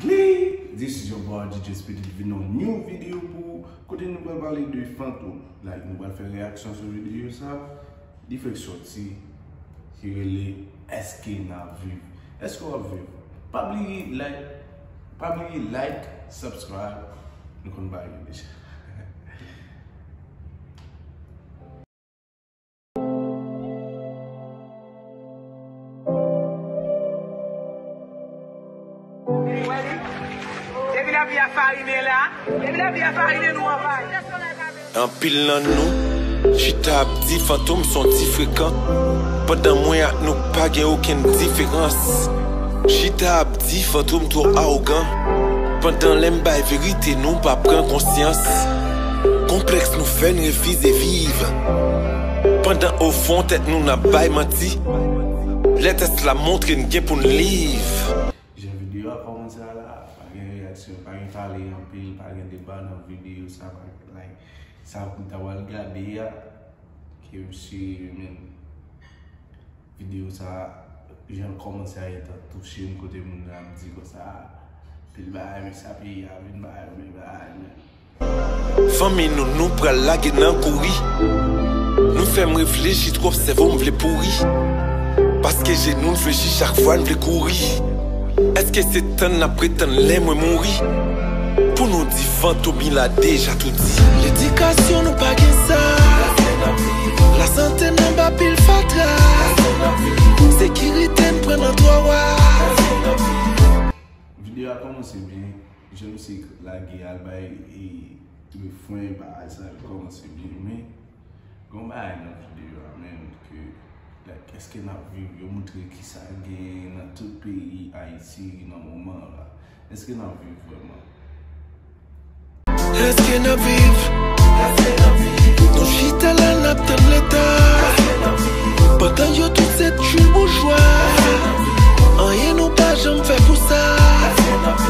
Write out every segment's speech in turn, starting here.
Hey! This is your boy DJ Speedy ki vin yon new video pou ou kote nou pral pale de fantom like nou pral fè reyaksyon sou video sa li fèk soti ki rele eske nap viv eske wap viv pa bliye like pa bliye like subscribe nou konn bagay yo deja. Anpil nan nou chita ap di fantom son ti frekan Pandan mwen ak nou pa gen okenn diferans Chita ap di fantom twò awogan Pandan lè m bay verite nou pa pran konsyans Konplèks nou fè n refize viv Pandan ofon tèt nou n ap bay manti Lè tès la montre n gen pou n liv. Jan videyo a kòmanse a la a, pa gen reyaksyon, pa gen pale anpil, pa gen deba nan videyo sa pa gen like. Sa pou m ta pral gade a ke m si men videyo sa a jan l kòmanse a gentan touche m kote moun nan ap di konsa anpil bagay men sa peyi a vin ba yo men bagay men. Fanmi nou nou pral lage nan kouri Nou fè m reflechi twòp sèvo m vle pouri Paske jenou n flechi chak fwa n vle kouri Èske se tann n ap pretann lè mwen mouri Pou nou di fantom il a deja tou di Ledikasyon nou pa gen sa Lasante n anba pil fatra Sekirite n pran nan twa wa. Video a komanse byen. Jan misye lage al bay refren bagay sa yo kòmanse byen men gon bagay nan video a menn ke like eske nap viv yo moutre kisa gen nan tout peyi ayiti nan moman an la eske nap viv vrèman. Eske nap viv Nou chita la nap tann leta Pandan yo tout se tchwiboujwa Anyen nou pa janm fè pou sa.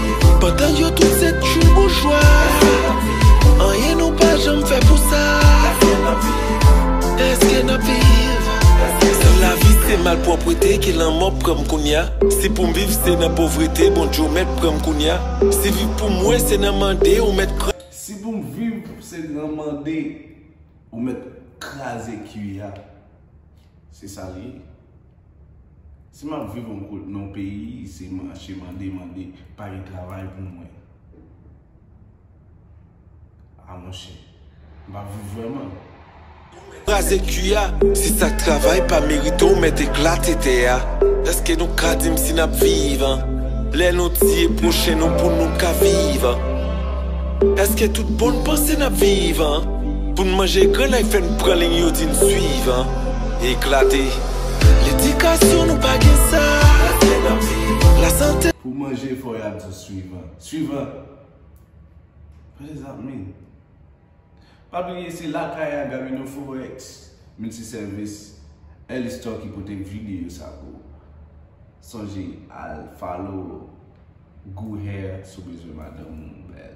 Pandan yo tout se tchoul boujwa Anyen nou pa janm fè pou sa Eske nap viv San lavi se malpwòpwete ke lanmò pranm kounya Si poum viv se nan povrete Bondye ou mèt pranm kounya Si viv pou mwen se nan mande ou mèt Si poum viv se nan mande ou mèt kraze kwi a Se sa li ye. Si map viv yon kot non peyi se mache mande mande pa gen travay pou mwen a monchè map viv vreman. Kraze kwi a, si sak travay pa merite w mèt eklate tè a Eske nou ka di m si n ap viv an Lè nou tiye pwochen nou pou nou ka viv an Eske tout bon n panse n ap viv an Pou n manje grann ay fè n pran liy yo di n swiv an Eklate. Pou manje fò ya di w swivan. Swivan! What does that mean? Pa bliye se lakay Agamino Forex Multiservis Early Stock ki pote video sa pou ou. Sonje al follow Gou Hair si w bezwen madanm ou bèl.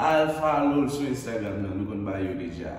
Al follow l sou Instagram nan nou konn bay yo deja.